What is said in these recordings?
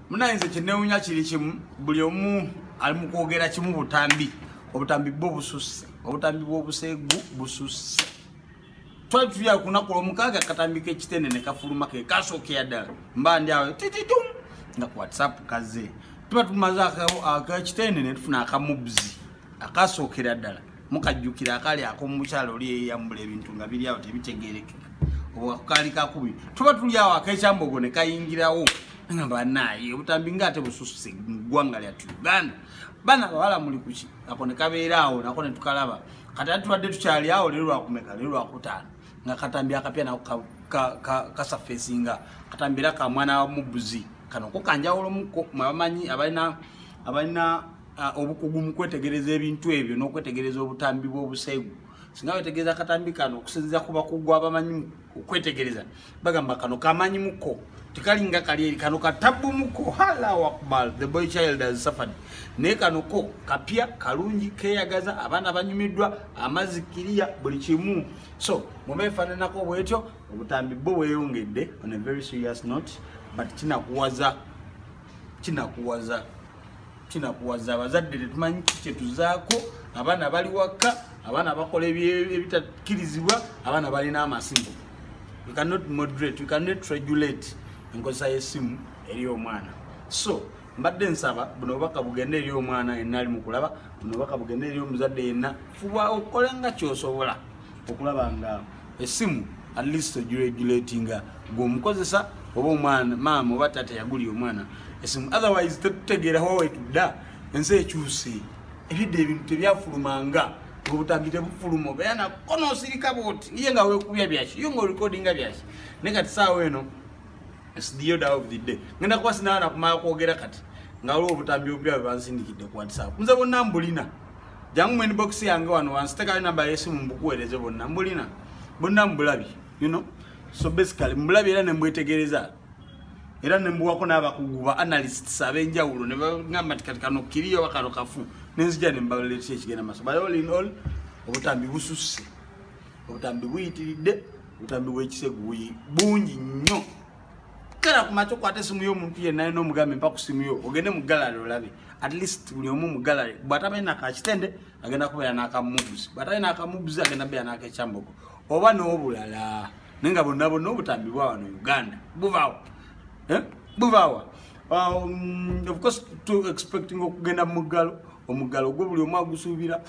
munaye nze kyenewunya kiri kimu buli omu ali mu kwogera kimu butambi obutambi bwo bususse obutambi bw'obuseegu bususse twali tuya kunaku lwomukaaga katambi kekitende ne kafuluma ke kasookera ddala mba ndi awo tititum nga ku whatsapp kaze tuba tumaze akekitende ne tufuna akamubzi akasookera ddala mukajjukira akaali akomukyalo oli eyeyambula ebintu nga biri awo tebitegerekeka obwakaali kakubi tuba tuli awo akekyambogo ne kayingirawo banaye obutambi nga ate busususe mugwanga lyatu uganda bana bawala muli kuki ako nekabeera awo nako netukalaba kati ati tubadde tukyali awo lero lwakumeka lero lwakutaano nga katambi akapya nako kasafesinga ka, ka, ka katambi era kamwana wamubuzi kano ko kanjawulomuko mwabamanyi abalina abalina obukugu mu kwetegereza ebintu ebyo n'okwetegereza obutambi bw'obuseegu singa wetegereza akatambi kano okusinziza ku bakugu abamanyi okwetegereza bagamba kano kamanyi muko tekalinga kali eri kano katabu muko halau akbar the boy child has suffered naye kano ko kapya kalungi keyagaza abaana banyumiddwa amazzi kiriya buli kimu so mubeefananako bwetyo obutambi bwo bweyongedde on a very serious note but kinakuwaza kinakuwaza kinakuwaza abazadde tetumanyi kyetuzaako abaana bali wakka abaana bakola ebitakkirizibwa abaana balina amasimu we cannot moderate we cannot regulate enkozesa y'essimu eri omwana so mbadde nsaba buno obubaka bugende eri omwana yenna ali mukulaba buno obubaka bugende eri omuzadde yenna fuba okole nga kyosobola okulaba nga esimu at least ogiregulatinga gweomukozesa oba omwana maama oba taata yagulira omwana esimu otherwise tetutegeera wa wetudda ensi ekyuse ebidde ebintu tebyafulumanga obutambi tebufuluma obeera nakona osirika bwoti ye nga wekubya byaki yo nga orekodinga byaki naye kati saawa eno sdioda of the day ngenda kuba sinaana kumala kwogera kati nga waliwo obutambi obupya bwebansindikidde ku whatsapp nze bonna mbulina jangu mu inbox yange wano wansi tekayo namba yesimu mbukuweereze bonna mbulina bonna mbulabi you know so basically mbulabi era nembwetegereza era nembuwako n'abakugu ba analysts ab'enjawulo ne bagamba nti kati kano kiriyo oba kano kafu nenzija ne mbaletera ekigenda maaso but all in all obutambi bususse obutambi buyitiridde obutambi bw'ekisegu bungi nnyo kera ku matu kwate simu yo muntu ye nayo no mugambe mpa ku simu yo ogende mu gallery olabe at least buli omu mu gallery bwata be na ka kitende agenda ku ya na ka moves bwata na ka moves agenda be na ka chamboko oba no bulala ninga bonna bonna obutambi bwa wano Uganda buvawo eh buvawo um, of course to expecting okugenda mu galo omugalo gwo buli omu agusuubira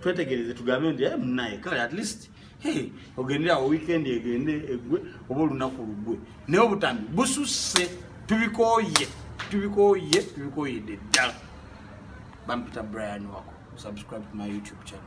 twetegereze tugambe nti eh, munaye kale at least ogende awo weekend egende egwe oba olunaku lugwe naye obutambi bususse tubikoye tubikoye tubikoyedde ddala bampita brian wako subscribe to my youtube channel